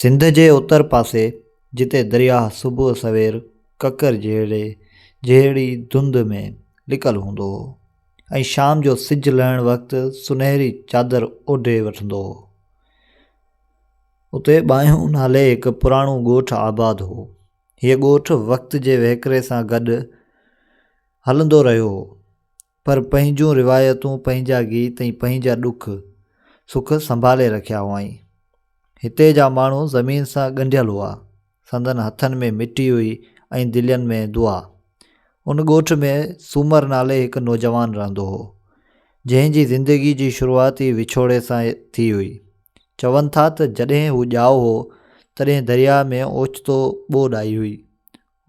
سنڌ جي اتر پاسي جتي درياهه صبح سوير ڪڪر جهڙي جهڙي ڌنڌ ۾ لڪل هوندو هو ۽ شام جو سج لهڻ وقت سنهري چادر اوڍي وٺندو هو اتي ٻانهيون نالي هڪ پراڻو ڳوٺ آباد هو هيء ڳوٺ وقت جي وهڪري سان گڏ هلندو رهيو هو پر پنهنجون روايتون، پنهنجا گيت ۽ پنهنجا ڏک سک سنڀالي رکيا هئائين. هتي جا ماڻهو زمين سان ڳنڍيل هئا. سندن هٿن ۾ مٽي هئي ۽ دلين ۾ دعا. ان ڳوٺ ۾ سومر نالي هڪ نوجوان رهندو هو، جنهن جي زندگي جي شروعات ئي وڇوڙي سان ٿي هئي. چون ٿا ته جڏهن هو ڄائو هو، تڏهن درياء ۾ اوچتو ٻوڏ آئي هئي.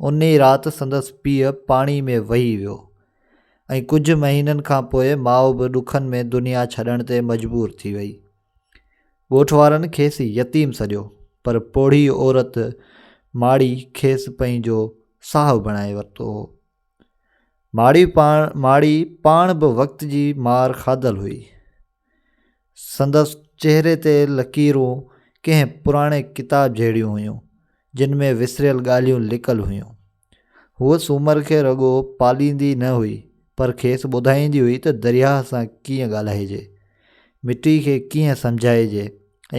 ان ئي رات سندس پيء پاڻي ۾ وهي ويو ۽ ڪجهه مهينن کان پوء ماء به ڏکن ۾ دنيا ڇڏڻ تي مجبور ٿي وئي. ڳوٺ وارن کيس يتيم سڏيو، پر پوڙهي عورت ماڙي کيس پنهنجو صاحب بڻائي ورتو هو. ماڙي پاڻ ماڙي پاڻ به وقت جي مار کاڌل هئي، سندس چهري تي لڪيرون ڪنهن پراڻي ڪتاب جهڙيون هيون، جن ۾ وسريل ڳالهيون لڪل هيون. هوء سومر کي رڳو پاليندي نه هئي، پر کيس ٻڌائيندي هئي ته درياهه سان ڪيئن ڳالهائجي، مٽي کي ڪيئن سمجهائجي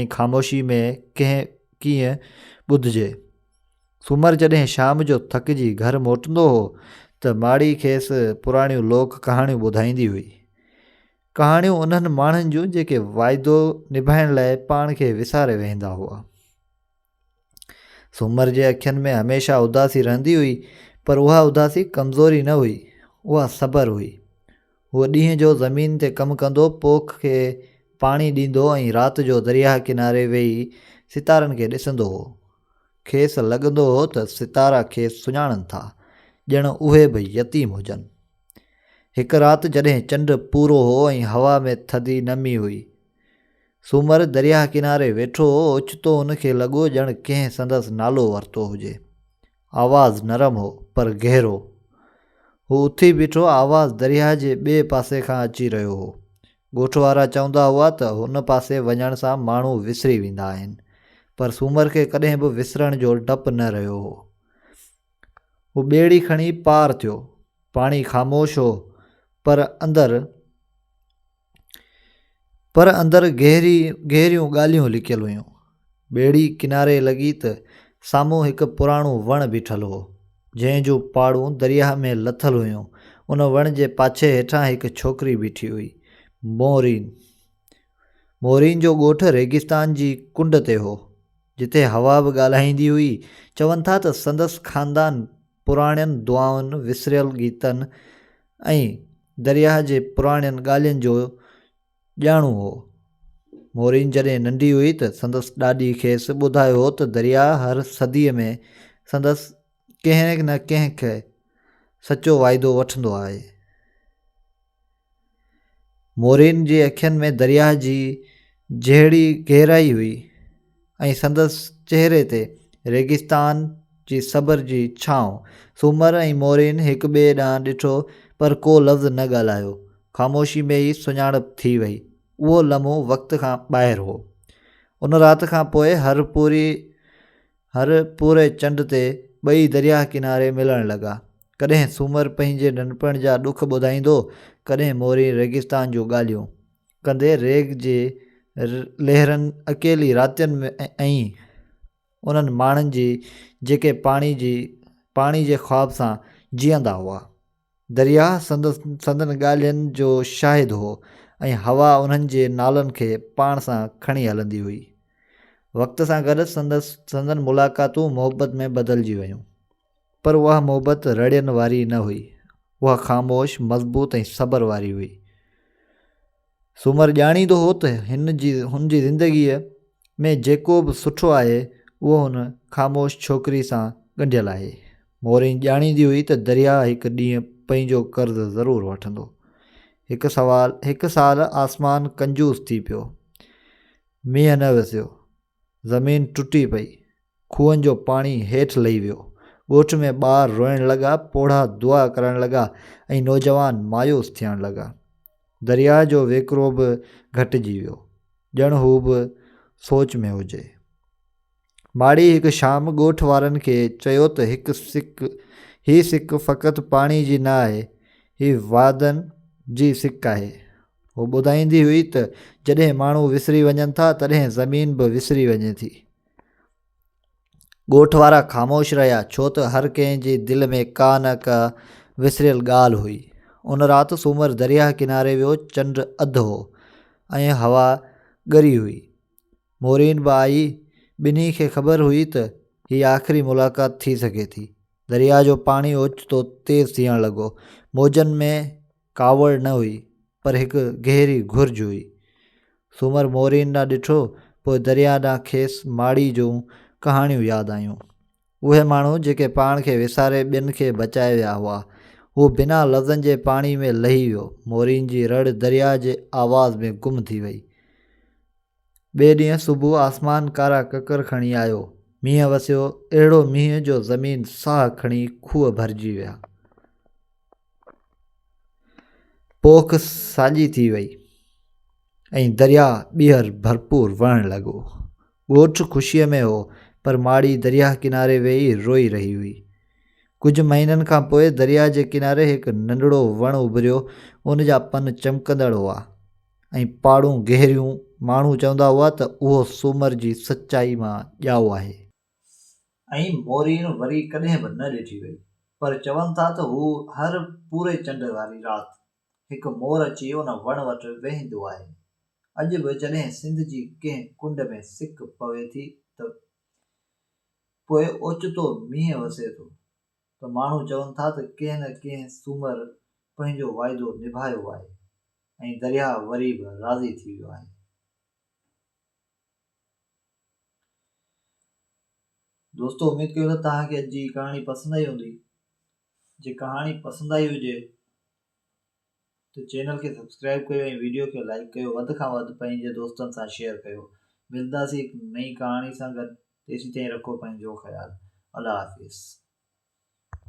۽ خاموشي ۾ ڪنهن ڪيئن ٻڌجي. سومر جڏهن شام جو ٿڪجي گهر موٽندو هو ته ماڙي کيس پراڻيون لوڪ ڪهاڻيون ٻڌائيندي هئي. ڪهاڻيون انهن ماڻهن جون جيڪي واعدو نڀائڻ لاء پاڻ کي وساري ويهندا هئا سومر جي اکين ۾ هميشه اداسي رهندي هئي پر اها اداسي ڪمزوري نه هئي اها صبر هئي هو ڏينهن جو زمين تي ڪم ڪندو پوک کي پاڻي ڏيندو ۽ رات جو درياهه ڪناري ويهي ستارن کي ڏسندو هو کيس لڳندو هو ته ستارا کيس سڃاڻن ٿا ڄڻ اهي به يتيم هجن هڪ رات جڏهن چنڊ پورو هو ۽ هوا ۾ ٿڌي نمي هئي. سومر درياهه ڪناري ويٺو هو، اوچتو هن کي لڳو ڄڻ ڪنهن سندس نالو ورتو هجي. آواز نرم هو، پر گهرو. هو اٿي بيٺو، آواز درياهه جي ٻئي پاسي کان اچي رهيو هو. ڳوٺ وارا چوندا هئا ته هن پاسي وڃڻ سان ماڻهو وسري ويندا آهن، پر سومر کي ڪڏهن به وسرڻ جو ڊپ نه رهيو هو. هو ٻيڙي کڻي پار ٿيو. پاڻي خاموش هو پر اندر پر اندر گهري گهريون ڳالهيون لڪيل هيون. ٻيڙي ڪناري لڳي ته سامهون هڪ پراڻو وڻ بيٺل هو جنهن جون پاڙون درياهه ۾ لٿل هيون. ان وڻ جي پاڇي هيٺان هڪ ڇوڪري بيٺي هئي. مورين مورين جو ڳوٺ ريگستان جي ڪنڊ تي هو. جتي حوا به ڳالهائيندي هئي. چون ٿا ته سندس خاندان پراڻين دعائن، وسريل گيتن ۽ درياهه جي پراڻين ڳالهين جو ڄاڻو هو. مورين جڏهن ننڍي هئي ته سندس ڏاڏي کيس ٻڌايو هو ته درياهه هر صديء ۾ سندس ڪنهن نه ڪنهن کان سچو وعدو وٺندو آهي. مورين جي اکين ۾ درياهه جي جهڙي گهرائي هئي ۽ سندس چهري تي ريگستان جي صبر جي ڇانو. سومر ۽ مورين هڪ ٻئي ڏانهن ڏٺو پر ڪو لفظ نه ڳالهايو. خاموشي ۾ ئي سڃاڻپ ٿي وئي. اهو لمحو وقت کان ٻاهر هو. ان رات کان پوء هر پوري هر پورهئي چنڊ تي ٻئي درياهه ڪناري ملڻ لڳا. ڪڏهن سومر پنهنجي ننڍپڻ جا ڏک ٻڌائيندو، ڪڏهن مورين ريگستان جون ڳالهيون. ڪندي ريگ جي لهرن اڪيلي راتين ۾ ۽ انهن ماڻهن جي جيڪي پاڻي جي پاڻي جي خواب سان جيئندا هئا. درياهه سندس سندن ڳالهين جو شاهد هو ۽ هوا انهن جي نالن کي پاڻ سان کڻي هلندي هئي. وقت سان گڏ سندس سندن ملاقاتون محبت ۾ بدلجي ويون. پر اها محبت رڙين واري نه هئي. اها خاموش، مضبوط ۽ صبر واري هئي. سومر ڄاڻيندو هو ته هن جي هن جي زندگيء ۾ جيڪو به سٺو آهي اهو هن خاموش ڇوڪري سان ڳنڍيل آهي. مورين ڄاڻيندي هئي ته درياء هڪ ڏينهن پنهنجو قرض ضرور وٺندو. هڪ سوال هڪ سال آسمان ڪنجوس ٿي پيو. مينهن نه وسيو. زمين ٽٽي پئي، کوهن جو پاڻي هيٺ لهي ويو، ڳوٺ ۾ ٻار روئڻ لڳا، پوڙها دعا ڪرڻ لڳا ۽ نوجوان مايوس ٿيڻ لڳا. درياء جو ويڪرو به گهٽجي ويو، ڄڻ هو به سوچ ۾ هجي. ماڙي هڪ شام ڳوٺ وارن کي چيو ته هڪ سڪ، هي سڪ فقط پاڻي جي نه آهي، هي وعدن جي سڪ آهي. هوء ٻڌائيندي هئي ته جڏهن ماڻهو وسري وڃن ٿا تڏهن زمين به وسري وڃي ٿي. ڳوٺ وارا خاموش رهيا ڇو ته هر ڪنهن جي دل ۾ ڪا نه ڪا وسريل ڳالهه هئي. ان رات سومر درياهه ڪناري ويو چنڊ اڌ هو ۽ هوا ڳري هئي. مورين به آئي ٻنهي کي خبر هئي ته هي آخري ملاقات ٿي سگهي ٿي. درياهه جو پاڻي اوچتو تيز ٿيڻ لڳو. موجن ۾ ڪاوڙ نه هئي، پر هڪ گهري گهرج هئي. سومر مورين ڏانهن ڏٺو، پوء درياهه ڏانهن کيس ماڙي جون ڪهاڻيون ياد آيون. اهي ماڻهو جيڪي پاڻ کي وساري ٻين کي بچائي ويا هئا، هو بنا لفظن جي پاڻي ۾ لهي ويو، مورين جي رڙ درياهه جي آواز ۾ گم ٿي وئي. ٻئي ڏينهن صبح آسمان ڪارا ڪڪر کڻي آيو. مينهن وسيو، اهڙو مينهن جو زمين ساهه کڻي کوهه ڀرجي ويا. پوک ساڄي ٿي وئي ۽ درياء ٻيهر ڀرپور وهڻ لڳو. ڳوٺ خوشيء ۾ هو پر ماڙي درياء ڪناري ويهي روئي رهي هئي. ڪجهه مهينن کان پوء درياء جي ڪناري هڪ ننڍڙو وڻ اڀريو، ان جا پن چمڪندڙ هئا. ۽ پاڙون گهريون، ماڻهو چوندا هئا ته اهو سومر جي سچائي مان ڄائو آهي. ۽ موريڻ وري ڪڏهن به نه ڏٺي وئي، پر چون ٿا ته هو هر پوري چنڊ واري رات هڪ مور اچي ان وڻ وٽ ويهندو آهي. اڄ به جڏهن سنڌ جي ڪنهن ڪنڊ ۾ سڪ پوي ٿي ته پوء اوچتو مينهن وسي ٿو. ته ماڻهو چون ٿا ته ڪنهن نه ڪنهن سومر پنهنجو واعدو نڀايو آهي ۽ درياهه وري به راضي ٿي ويو آهي. دوستو اميد ڪيون ته توهان کي اڄ جي ڪهاڻي پسند آئي هوندي جي ڪهاڻي پسند آئي هجي ته چينل کي سبسڪرائب ڪيو ۽ ويڊيو کي لائيڪ ڪيو وڌ کان وڌ پنهنجي دوستن سان شيئر ڪيو ملنداسين هڪ نئين ڪهاڻي سان گڏ تيسين تائين رکو پنهنجو خيال الله حافظ.